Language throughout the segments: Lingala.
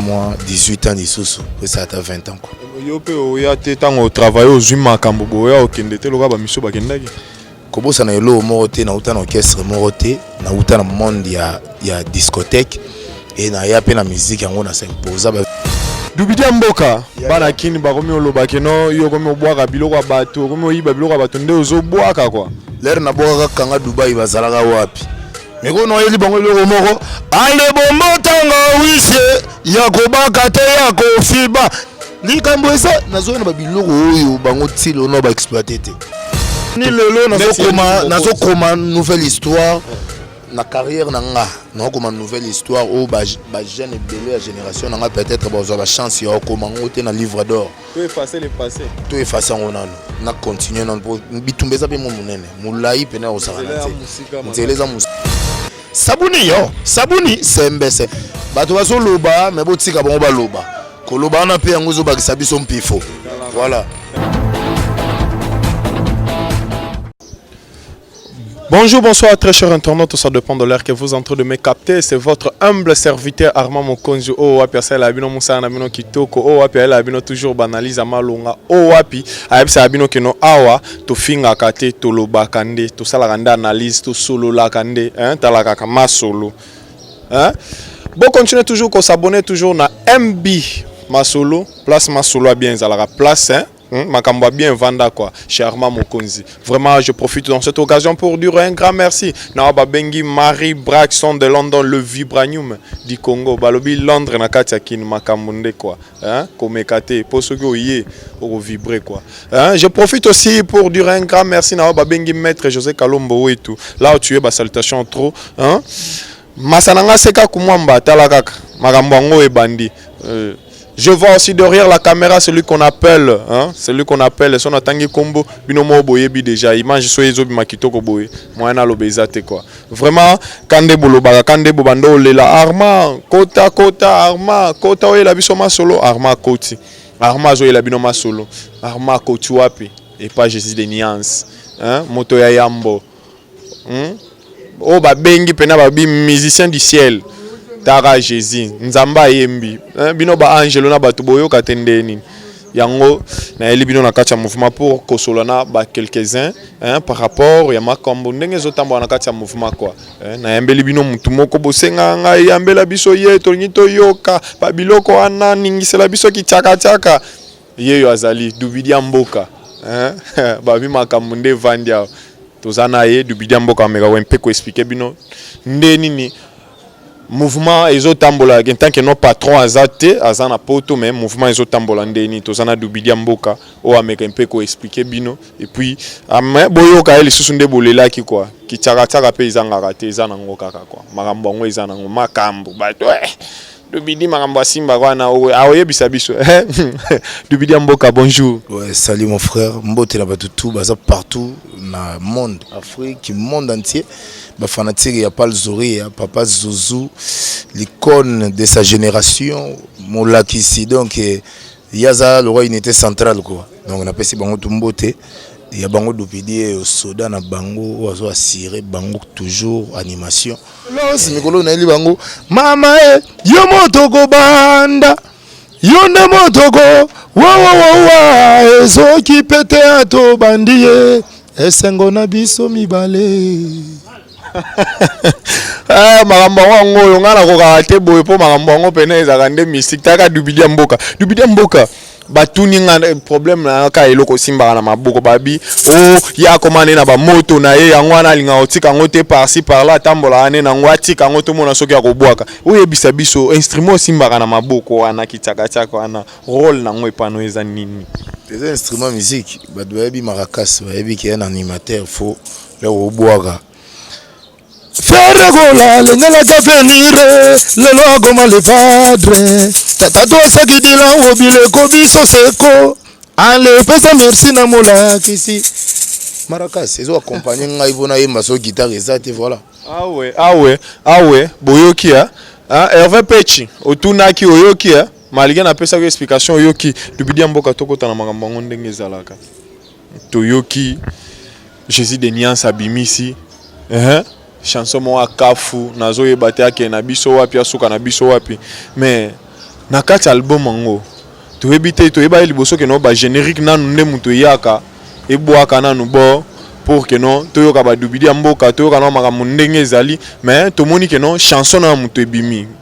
mwa 18 ans lisusu esa ata 20 ans yo mpe oya te ntango otravaille ozwi makambo boya okende te lokola bamisu bakendaki kobosana eloko moko te nauta na orchestre moko te nauta na monde ya, ya discothèque e naya mpe na miziki yango na simposa dubidi ya mboka bana kini bakomi oloba keno yo okomi obwaka biloko ya bato okomi oyiba biloko ya bato nde ozobwaka kwa lere nabwakaka kanga dubai bazalaka wapi mikono ayeli bango eloko moko ale bombo ntanga wisie ya kobaka te ya kofiba likambo eza nazoyona babiloko oyo bango tilo na baexploite te ni lelo nazokoma nouvelle histoire na carrière na nga nakokoma nouvelle histoire oyo bajeune ebele ya génération na nga peut-être bazwa bachance ya kokoma yango te na livre d'or To effacer le passé. To effacer yango nanu na continuer nanu po bitumba eza pe mo munene mulayi pena ozala na te nzela eza musika sabuni yo sabuni sembese bato bazoloba me botika bango baloba koloba wana mpe yango ezobakisa biso mpifo voilà Bonjour, bonsoir, très chers internautes, ça dépend de l'heure que vous entrez de me capter. C'est votre humble serviteur Armand Mokonzi. Oh, wapi, ça la bino moussa na bino kitoko. Oh, wapi, la bino toujours banalise à malonga. Oh, wapi, aïe, ça bino que no awa, to finga kate, to loba kande, to salaranda analyse, to solo la kande, hein, talaka kama solo. Hein? Bon, continuez toujours qu'on s'abonne toujours na MB Masolo, place Masolo bien, la place, hein. Hmm, makambo bien vanda quoi charma mokonzi vraiment je profite dans cette occasion pour dire un grand merci na ba bengi Marie Braxton de London le vibranium du Congo balobi Londres na kati ya kin makambo nde quoi hein komeka te po soki oye oko vibrer quoi hein je profite aussi pour dire un grand merci na ba bengi maître José Kalombo wetu là où tu es ba salutations trop hein Masa na nga seka kumwamba tala kaka makambo yango ebandi. Euh, je vois aussi derrière la caméra celui qu'on appelle hein, celui qu'on appelle son atangi kombo bino mo boyebi déjà image so ezo bima kitoko boye moyen na lobe eza te quoi. Vraiment kande bolobaka kande bobanda olela Arma kota kota Arma kota oyela biso masolo Arma koti. Arma azoyela bino masolo Arma koti wapi? Et pas Jésus des nuances. Hein, moto ya yambo. hmm? oyo babengi mpena babi musicien du ciel tara jésus nzambe ayembi eh, bino baangelo na bato boyoka te ndenge nini yango nayeli bino na kati ya mouvement pour kosola na ba quelques uns hein, par rapport ya makambo ndenge ezotambola na kati ya mouvement kua hein, eh, nayambeli bino motu moko bosengaka ngai yambela biso ye tolingi toyoka babiloko wana ningisela biso kitiakatiaka Yeyo azali dubidia mboka hein babi makambu nde evandi awa toza na ye dubidia mboka ameka ko mpe ko expliquer bino nde nini mouvement ezo tambola en tant que no patron aza te aza na poto mais mouvement ezo tambola nde nini toza na dubidia mboka oyo ameka mpe ko expliquer bino et puis ame boyoka ye lisusu nde bolelaki quoi kitsaka tsaka mpe ezangaka te eza nango kaka quoi makambo yango eza nango makambu bato eh Dubidi makambo asimba wana aoyebisa biso eh? Dubidi ya mboka bonjour. Ouais, salut mon frère mbote na bato tout baza partout na monde Afrique monde entier ba fanatique ya Pal Zoria papa Zuzu l'icône de sa génération molakisi donc eh, yaza lokola unité centrale quoi donc napesi bango tout mbote ya bango Dubidi eh, soda na bango oyo azo assurer bango toujours animation Los mikolo nayeli bango mama e eh, yo moto kobanda yo nde moto ko wawawawa ezoki pete ato bandi ye esengo na biso mibale Eh, makambo yango yango oyo ngai nakokaka te boye mpo makambo yango mpena ezalaka nde mystique taka dubidia mboka dubidia mboka batuni nga eh, problème na ka eloko osimbaka na maboko babi o oh, ye akoma nde na bamoto na ye yango wana alingaka kotika yango te parci parla atambolaka nde nango atika yango tomona soki akobwaka oyebisa biso instrument osimbaka na maboko wana kitiakatiaka wana role nango epano eza nini eza instrument musique bato bayebi marakas bayebi ke ya na animateur fo ya kobwaka Ferre Gola lengelaki avenir lelo akoma levadre tata tosaki bilan obileko biso seko ale pesa merci na molakisi maracas ezo accompagne ngai mpo nayemba so guitare eza te voilà awe awe awe boyoki ya ah, herve pechi otunaki oyoki ya malgre napesaki explication oyoki lubidia mboka tokota na makambo yango ndenge ezalaka Toyoki Jesus de Niance abimisi eeh chanson moko ya kafu nazo yeba te akende na biso wapi asuka na biso wapi mais na kati ya album yango toyebi te toyebaki liboso ke no ba generique nanu nde mutu eyaka ebwaka nanu bo pour ke no toyoka ba dubidi ya mboka toyoka nao makambo ndenge ezali mais tomoni ke no chanson nao ya mutu ebimi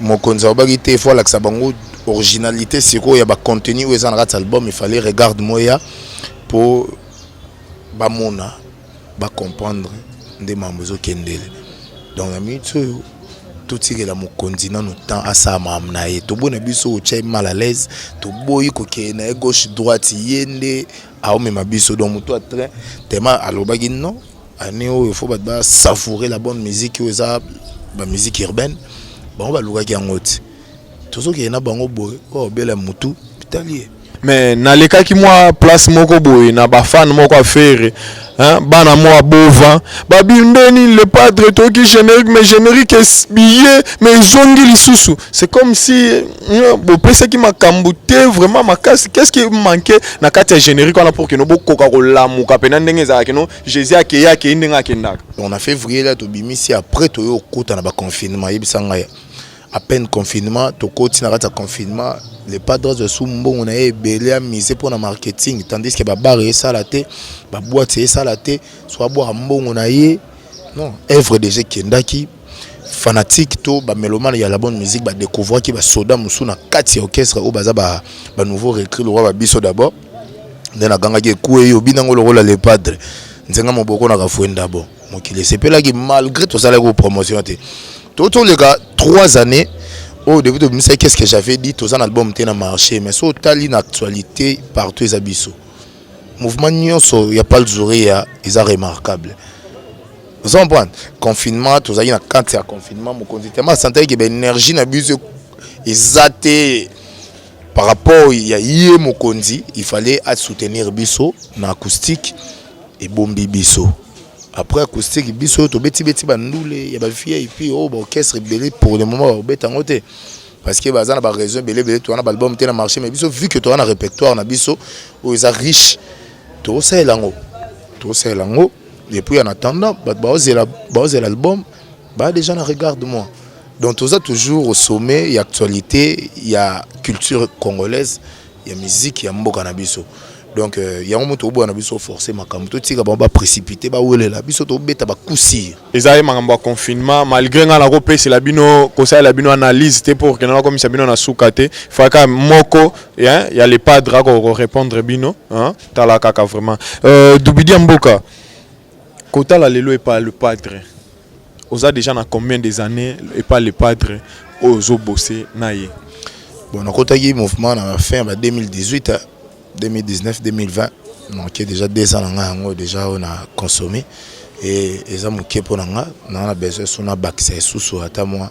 Mokonzi alobaki te, il faut alakisa bango originalité sikoyo ya ba contenu oyo eza na kati album, il fallait regarde moya po bamona ba comprendre nde mambo ezokendele donc na minute oyo totikela mokonzi nano temps asala makambo na ye toboyi na biso otya ye mal à l'aise toboyi kokende na ye gauche droite ye nde aomema biso donc moto ya train tema alobaki non année oyo faut bato ba savourer la bonne musique oyo eza ba musique urbaine bango balukaki yango ti tozokende na bango boye oyo obela motu bitali ye me nalekaki mwa place moko boye na bafane moko ya fere bana mwa bova babimbeni le padre toki générique mais générique biye mais ezongi lisusu c'est comme si bopesaki makambo te vraiment makasi qu'est-ce qui manque na kati ya générique wana pour kino bokoka kolamuka mpena ndenge ezalaka kino jésus akei akei ndenge akendaka donc na février la tobimisi après toye okota na baconfinement yebisa ngai à peine confinement tokoti na kati ya confinement le padre asu mbongo na ye ebele amise mpo na marketing tandis que babare esala te baboite esala te so abwaka mbongo na ye non œuvre déjà ekendaki fanatique to ba melomane ya la bonne musique ba découvrir ki ba soda musu na kati ya orchestre oyo baza ba ba nouveau recrue lokola ba biso d'abord nde na ganga ki ekue yo bina ngo lokola le padre nzenga moboko na kafuenda bo mokili esepelaki malgré tosalaki ko promotion te to toleka 3 années oyo oh, depuis tobimisaki qu'est ce que j'avais dit toza na album te na marché mais so otali na actualité partout eza biso mouvement nyonso ya palzuri ya eza remarquable ozo comprendre confinement tozalaki na kati ya confinement mokonzi tellement asantaki ke baénergie na biso eza te par rapport ya ye mokonzi il fallait asoutenir biso na acoustique ebombi biso après acoustique biso tobetibeti bandule ya bavip oyo oh, baorchestre ebele pour le moment bakobeta yango te parce que baza na baraison ebele ebele towana baalbum te na marché mais biso vu que toza na répertoire na biso oyo eza riche tokosalela yango tokosalela yango et puis en attendant bato baozela baozela album baa déjà na regarde moi donc toza toujours au sommet ya actualité ya culture congolaise ya miziki ya mboka na biso donc euh, yango moto oboya na biso force makambo totika bango baprécipité bawelela biso tobeta bakusir ezali makambo ya confinement malgré ngai nakopesela bino kosalela bino analyse te pour ke nakomisa bino na suka te faka moko ya le padre akorépondre bino hein? tala kaka vraiment euh, dubidia mboka kotala lelo epa le padre oza déjà na combien des années epa le padre oyo ozobose na ye bon nakotaki mouvement na fin ya ba 2018 hein, 2019 2020 manke déjà deux ans na ngai yango déjà oyo na consomme e eza moke mpo na ngai naa na besoin so nabakisa esusu ata mwa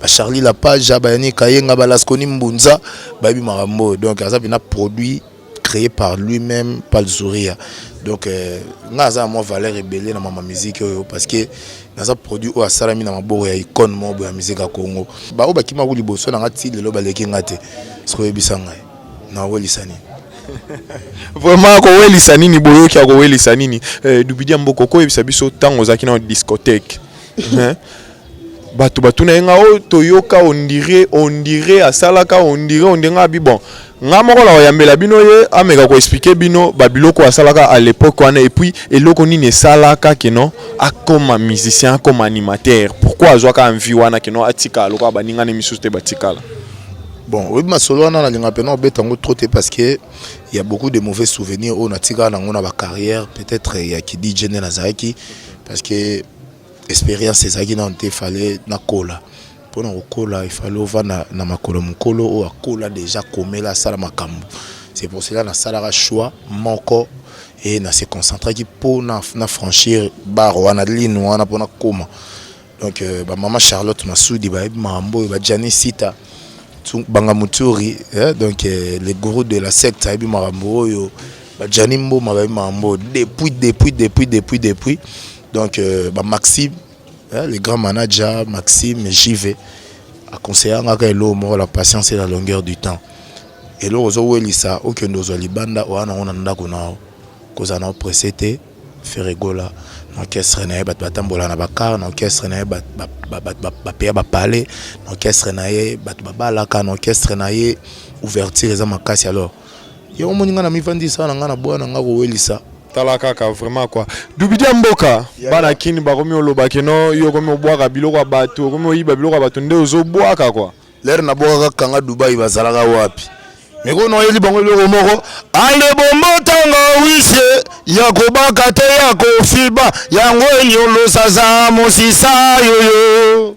ba Charlie la page ba Yannick Kayenga ba Lasconi Mbunza ba bi makambo donc aza bina produit créé par lui-même par Zuria donc euh, nga aza moi valeur ebele na mama musique oyo parce que naza produit oyo asalami na maboko ya icône moko boya musique ya Congo ba oyo bakima ko liboso na nga ti lelo baleki nga te sikoyo yebisa ngai na welisa nini vraiment akowelisa nini boyoki akowelisa nini eh, dubidia mboko okoyebisa biso ntango ozalaki na discothèque batu batuna ye nga oyo toyoka ondire ondire asalaka ondire ondire nga bi bon nga moko na oyambela bino ye ameka ko expliquer bino ba biloko asalaka à l'époque wana et puis eloko nini esalaka que non akoma musicien akoma animateur pourquoi azwaka envie wana que non atika lokola baninga ne misusu te batikala bon oyebi masolo wana nalinga mpena obeta yango trop te parce que ya beaucoup de mauvais souvenirs oyo natikala nango na bacarrière peut-être ya kidj nde nazalaki parce que Experience ezalaki nanu te fallait na kola pona ko kola il fallait ovanda na makolo ya mukolo oyo akola dejà akomela asala makambu c'est pour cela na salaka choix moko et na se concentraki pona na franchir bar wana ligne wana pona koma donc euh, ba maman Charlotte Masudi ba yebi makambo oyo ba Gianni Sita banga muturi eh, donc euh, le gourou de la secte ayebi makambo oyo ba Gianni Mboma ba yebi makambo depuis depuis depuis depuis depuis Donc euh, ba Maxime, hein, le grand manager Maxime JV a conseillé ngaka elo moko la patience et la longueur du temps. Elo ozo welisa okende ozwa libanda oya nango na ndako na yo kozala na opresse te feregola na orchestre na ye bato batambola na bakar na orchestre na ye bapeya bapale na orchestre na ye bato babalaka na orchestre na ye ouverture eza makasi alors Yo omoni nga na mifandisa na nga na boya na nga kowelisa. Tala kaka vraiment quoi. Dubidia mboka bana kini bakomi oloba ke no yo okomi obwaka biloko ya bato okomi oyiba biloko ya bato nde ozo bwaka quoi. Lere na bwakaka kanga Dubai bazalaka wapi? Mais ko noyeli bango eloko moko ale bombotanga wisie ya kobaka te ya kofiba yango enyolosa za mosisa yoyo.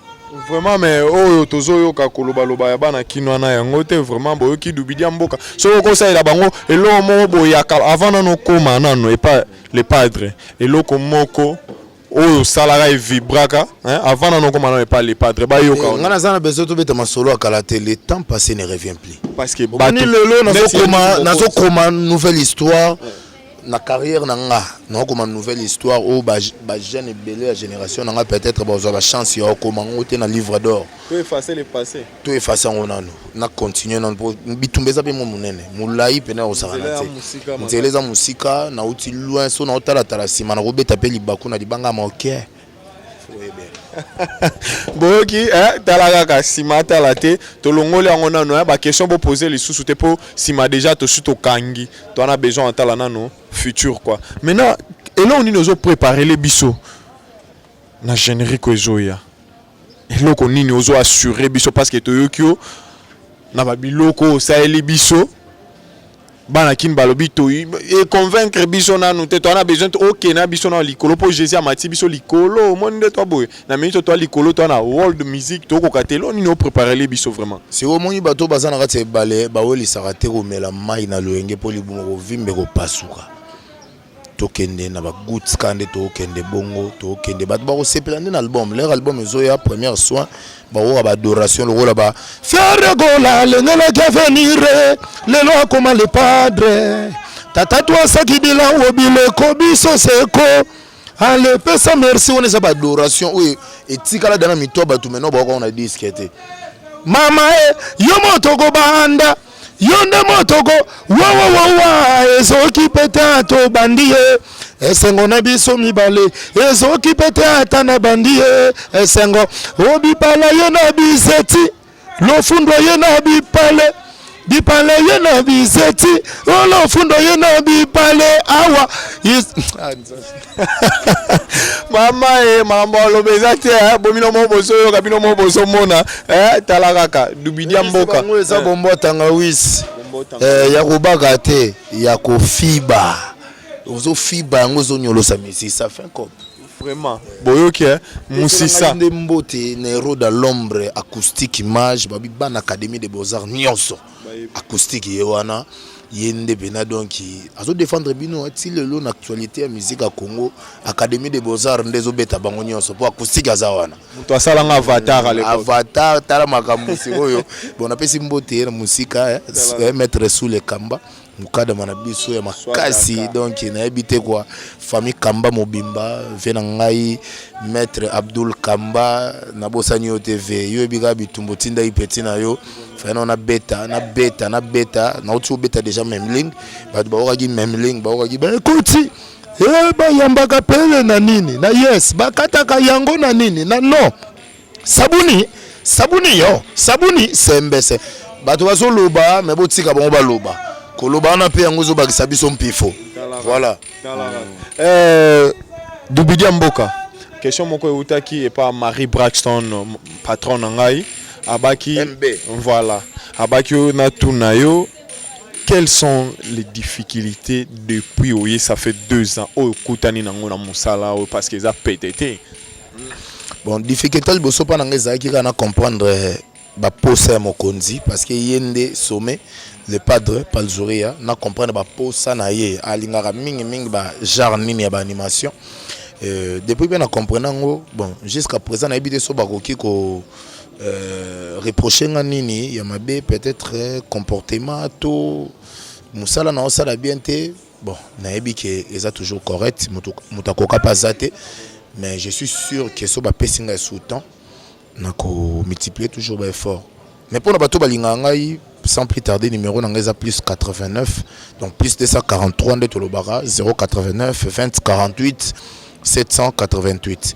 Vraiment mais oyo tozo yoka koloba loba ya bana kinwa na yango te vraiment boyoki dubidia mboka soki okosalela bango eloko moko boyaka avant nano koma nano epa le padre eloko moko oyo osalaka evibraka avant nano koma nano epa le padre bayoka eh, nga naza na besoin tobeta masolo ya kala te le temps passé ne revient plus parce que bani lelo nazokoma nazokoma nouvelle histoire ouais. na carrière na nga naokoma nouvelle histoire oyo bajeune ebele ya génération na nga peut-être bazwa bachance ya okoma yango te na livre d'or to efface le passé to efface yango nano na continue nano mpo bitumba eza mpe mwa monene molai mpena ekosakana te nzela eza mosika nauti loin so naotalatala nsima nakobeta mpe libaku na libanga ya moke boyoki eh, tala kaka nsima atala te tolongoli yango nano eh, baquestion bopose lisusu te mpo nsima deja tosi tokangi toana besoin atala nano futur kua maintenant eloko nini ozopreparele biso na générique oyo ezoya eloko nini ozo assure biso parce que toyoki yo na babiloko osaleli biso bana kin balobi to e convaincre biso nanu te toana besoin oke na biso na likolo mpo jésus amati biso likolo omoni nde twa boye na mingi to twa likolo twa na world musique tokoka te elo nini opreparele biso vraiment siko omoni bato baza na kati ya ebale bawelisaka te komela mai na loyenge mpo libumu kovimba ekopasuka tokende na ba gouts ka nde tokende bongo tokende bato bakosepela nde na album lere album ezoya première soin bakoka baadoration lokola ba fiere gola alengelaki avenir lelo akoma le padre tata twasaki bilango bileko biso seko ale pesa merci wana eza baadoration oyo etikala dana mito ya bato maintenant bakoka na diske te mama e yo moto kobanda yo nde motoko wawawawa ezoki pete ato bandi ye esengo na biso mibale ezoki pete ata na bandi ye esengo obipala ye na bizeti lofundo ye na bipale bipale ye na bizeti olofundo ye na bipale awa ah, mama e makambo aloba eza te eh, bomino moko bozoyoka bino moko bozomona eh, tala kaka dubidia mboka eza bombo tangawisi ya kobaka te ya kofiba ozofiba yango ozonyolosa misisa fin cop vraiment boyoki eh? musisa nde mbote na eroda lombre acoustique image babi bana académie de beaux-arts nyonso acoustique ye wana ye nde pena donc azo défendre bino ti lelo na actualité ya musique ya congo académie de beaux-arts nde ezobeta bango nyonso mpo acoustique aza wana moto asalanga avatar à l'époque. avatar tala makambo sikoyo bon napesi mbote ye na mosika eh, eh, maître sous le kamba mukadama na biso ya makasi donc nayebi te kwa famille kamba mobimba vie na ngai maître abdul kamba nabosani yo te ve yo yebi kaka bitumba otindaki peti na yo fana na beta na beta na beta nauti kobeta déjà memling bato baokaki memling baokaki baekoti e eh, bayambaka pele na nini na yes bakataka yango na nini na non sabuni sabuni yo sabuni sembese bato bazoloba me botika bango baloba koloba wana mpe yango ezobakisa biso mpifo voilà euh, dubidia mboka question moko eutaki epa marie braxton patron na ngai abaki MB. voilà abaki yo natuna yo quelles sont les difficultés depuis oye ça fait deux ans oyo okutani nango na mosala oyo parce que eza pete te bon difficulté liboso mpa na ngai ezalaki kaka na comprendre eh, baposa ya mokonzi parce que ye nde sommet le padre palzuria na comprendre baposa na ye alingaka mingimingi bagenre nini ya baanimation euh, depuis mpe na comprendre yango bon jusqu'à présent nayebi te so bakoki ko euh, reproche nga nini ya mabe peut-être eh, comportement to mosala na osala bien te Bon, nayebi ke eza toujours correct, mutu mutu akoka pa za te, mais je suis sûr que so ba pesi ngai sous temps nako multiplier toujours ba effort. Mais pona bato balingaka ngai sans plus tarder numéro na ngai eza plus 89 donc plus 243 nde tolobaka 089 20 48 788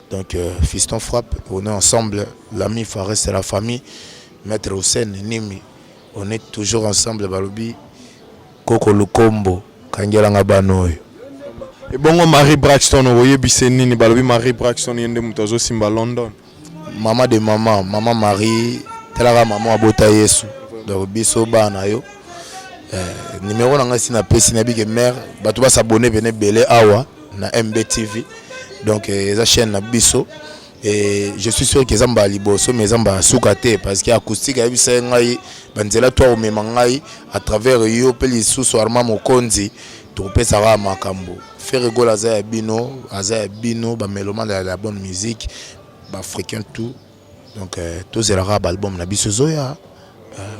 Donc euh, Fiston Frappe, on est ensemble, l'ami Fares c'est la famille, Maître Hussein Nimi, on est toujours ensemble balobi Koko Lukombo, Kangelanga Banoy. Et bongo Marie Braxton, oyebise nini balobi Marie Braxton yende moto azosimba London. Maman de maman, maman Marie, telaka maman abota Yesu. Donc biso bana yo. Euh, numéro na ngai si na pesi na bike mère, bato ba s'abonner pene belé awa. na mbtv donc euh, eza chaîne na biso et je suis sûr que eza mbala liboso mais eza mbala suka te parce que acoustique ayebisa ye ngai banzela to akomema ngai à travers yo mpe lisusu arma mokonzi tokopesaka makambo ferre gol aza ya bino aza ya bino bamelomane ya la bonne musique baafricain tout donc tozela kaka ba album na biso ezoya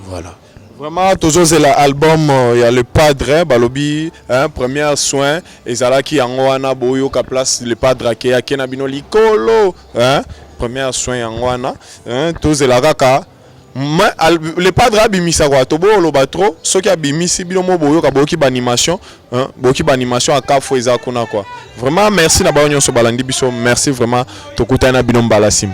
voilà Vraiment, tozozela album euh, ya le padre balobi hein, première soin ezalaki yango wana boyoka place le padre ake ake na bino likolo hein, première soin yango wana hein, tozela kaka Ma, al, le padre abimisa kwa tobooloba trop soki abimisi bino mo boyoka boyoki baanimation Hein? boki ba animation ya kafo eza kuna quoi vraiment merci na bayo nyonso balandi biso merci vraiment tokutani na bino mbala nsima